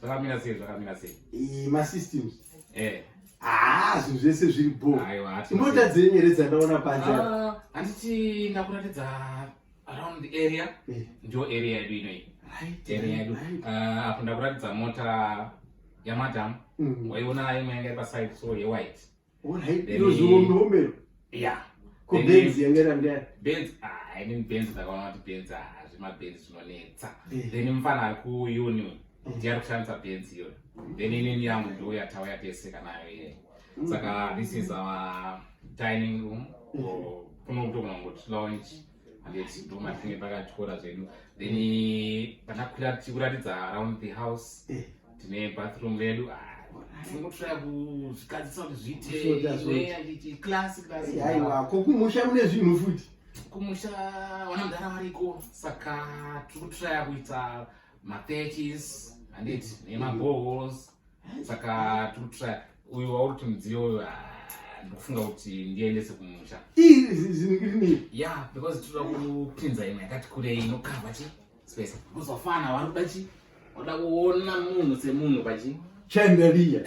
Zvakamira sei zvakamira sei? Eh ma systems. Eh. Ah, zvinhu zvese zviri bo. Aiwa hati. Mota dzenyu here dzandaona panze. Ah, handiti ndakuratidza around the area. Eh. Ndio area yedu ino iyi. Right. Area yedu. Ah, apo ndakuratidza mota ya madam. Mm. Waiona imwe yanga iri paside so ye white. Alright, iro zihombe hombe iro. Yeah. Ko Benz yanga iri under. Benz, ah, I mean Benz ndakaona kuti Benz ah, zvima Benz zvinonetsa. Eh. Then mfana ari ku uni. Eh. Ndiye ari kushandisa Benz iyo. Then inini yangu ndiyo yatawa yateseka nayo iye. Mm. Saka this is our dining room. Mm. Kuno kutogona kuti lounge. ndomatinge pakatyora zvedu then patakwira tichikuratidza around the house eh. tine bathroom vedu ah, aiwako kumusha mune zvinhu futi kumusha wana mudhara variko saka tiri kutraya kuita mapeches handiti nemabohos saka tiri kutraya uyu wauri kuti mudziyo uyu ndikufunga kuti ndiendese kumusha ya because tinoda kupinza imwe yakati kurei inokava chi space kuzofana vari kuda chi oda kuona munhu semunhu pachi chandeliya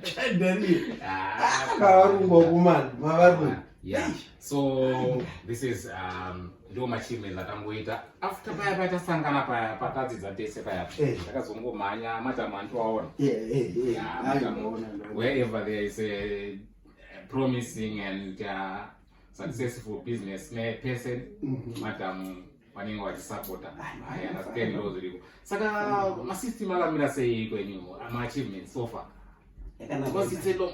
chandeliya ah, kavarumba kumani mavarumba yeah so this is um, ndiwo machievements atangoita after paya paya tasangana paya patadzidza tese paya eh. takazongomhanya matamu andiwaona wherever there is a promising and uh, successful business ne person mhm. matamu vanenge vachisapota i understand ndo zviriko saka masystem akamira sei kwenyu maachievements so far because it's a long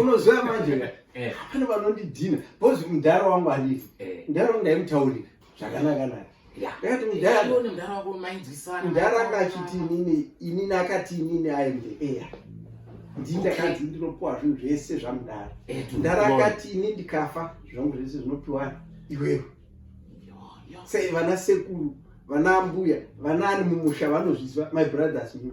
unoziva manje ka eh. pane vanondidhina bcoz mudhara wangu arivi eh. mudhara wangu ndaimutaurira zvakanaka naye mudhara anga achiti inini inini akati inini aende eya ndii ndakanzi ndinopiwa zvinhu zvese zvamudhara eh, mudhara akati ini ndikafa zvangu zvese zvinopiwani iwewe sei vana sekuru vana ambuya vana ani mumusha vanozviziva my brothers new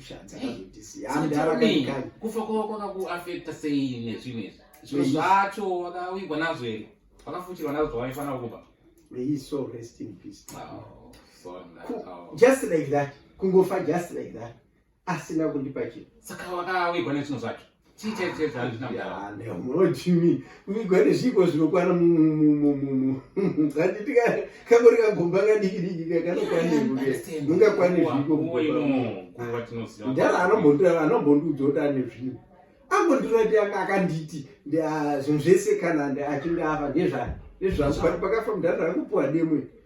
kufa kwavo kwakakuafekta sei nezvimwe izvi zviro zvacho wakavigwa nazvo here wakafuchirwa nazvo zvawaifanira kuba just like that kungofa just like that asina kundipa chinhu saka wakawigwa nezvinhu zvacho munochimi migwani zviiko zvinokwana handiti kangori kagomba kadiki diki kakanokwanimungakwane zviikodhara anombondiudza kuti ane zvinhu ambondirati akanditi zvinhu zvese kana achinge afa ndezvani ndezvangu but pakafa mudhara akupuwa demwe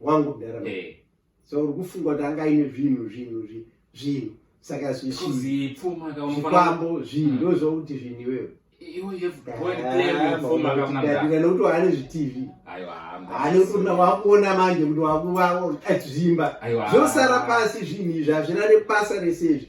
wangu mudhara eh. so uri kufunga kuti anga aine zvinhu zvinhu zvinhu saka zvikwambo zvinhu hmm. ndozvokuti zvinhu iwewe nekuti waane zvitv haane kuona wakuona manje kuti wakuvawo zvimba zvosara pasi zvinhu izvi hazvina nebasa rese izvi